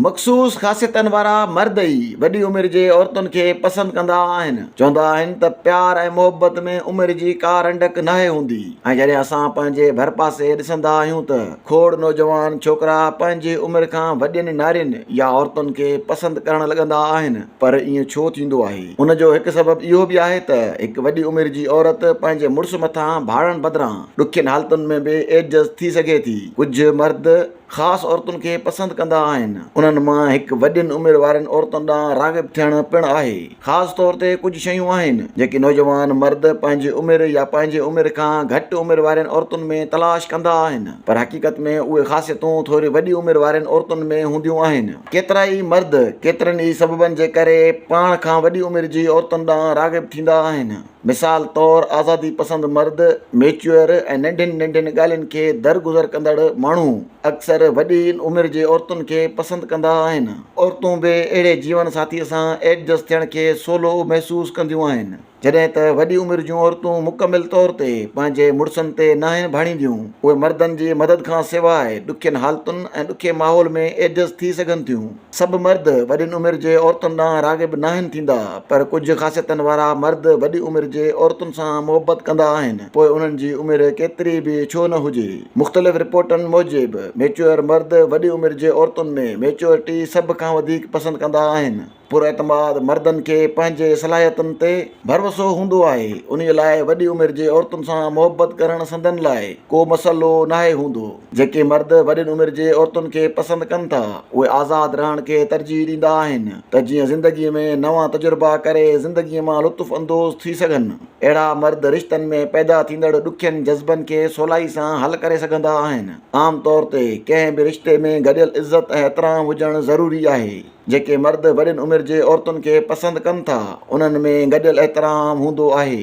مخصوص خاصيتن وارا مرد ئي وڏي عمر جي عورتن کي پسند ڪندا آهن. چوندا آهن ته پيار ۽ محبت ۾ عمر جي ڪا رنڊڪ ناهي هوندي ۽ جڏهن اسان پنهنجي ڀرپاسي ڏسندا آهيون ته کوڙ نوجوان ڇوڪرا پنهنجي عمر کان وڏين نارين يا عورتن کي پسند ڪرڻ لڳندا آهن. پر ائين ڇو ٿيندو آهي؟ ان جو هڪ سبب اهو به آهي ته هڪ وڏي عمر جي عورت پنهنجي مڙس مٿان ڀاڙڻ بدران ڏکين حالتن ۾ به ايڊجسٽ ٿي سگهي ٿي. ڪجهه مرد. خاص عورتن کي پسند ڪندا آهن. انهن مان هڪ وڏين عمر وارين عورتن ڏانهن راغب ٿيڻ پڻ آهي. خاص طور تي ڪجهه شيون آهن، جيڪي نوجوان مرد پنهنجي عمر يا پنهنجي عمر کان گهٽ عمر وارين عورتن ۾ تلاش ڪندا آهن، پر حقيقت ۾ اهي خاصيتون ٿوري وڏي عمر وارين عورتن ۾ هونديون آهن. ڪيترائي مرد ڪيترن ئي سببن جي ڪري پاڻ کان وڏي عمر جي عورتن ڏانهن راغب ٿيندا آهن. مثال طور آزادي پسند مرد، ميچيوئر ۽ ننڍين ننڍين ڳالهين کي درگذر ڪندڙ ماڻهو اڪثر وڏي عمر جي عورتن کي پسند ڪندا آهن. عورتون به اهڙي جيون ساٿيء سان ايڊجسٽ ٿيڻ کي سولو محسوس ڪنديون آهن. جڏهن ته وڏي عمر جون عورتون مڪمل طور تي پنهنجي مڙسن تي ناهن ڀاڻينديون، اهي مردن جي مدد کان سواء ڏکين حالتن ۽ ڏکي ماحول ۾ ايڊجسٽ ٿي سگهن ٿيون. سڀ مرد وڏين عمر جي عورتن ڏانهن راغب ناهن ٿيندا، پر ڪجهه خاصيتن وارا مرد وڏي عمر جي عورتن سان محبت ڪندا آهن، پوء انهن جي عمر ڪيتري به ڇو نه هجي. مختلف رپورٽن موجب، ميچوئر مرد وڏي عمر جي عورتن ۾ ميچوئرٽي سڀ کان وڌيڪ پسند ڪندا آهن. پراعتماد مردن کي پنهنجي صلاحيتن تي ڀروسو هوندو آهي، انهي لاء وڏي عمر جي عورتن سان محبت ڪرڻ سندن لاء ڪو مسئلو ناهي هوندو. جيڪي مرد وڏين عمر جي عورتن کي پسند ڪن ٿا، اهي آزاد رهڻ کي ترجيح ڏيندا آهن ته جيئن زندگي ۾ نوان تجربا ڪري زندگي مان لطف اندوز ٿي سگهن. اهڙا مرد رشتن ۾ پيدا ٿيندڙ ڏکين جذبن کي سولائي سان حل ڪري سگهندا آهن. عام طور تي ڪنهن به رشتي ۾ گڏيل عزت ۽ احترام هجڻ ضروري آهي. جيڪي مرد وڏين عمر جي عورتن کي پسند ڪن ٿا، انهن ۾ گڏيل احترام هوندو آهي.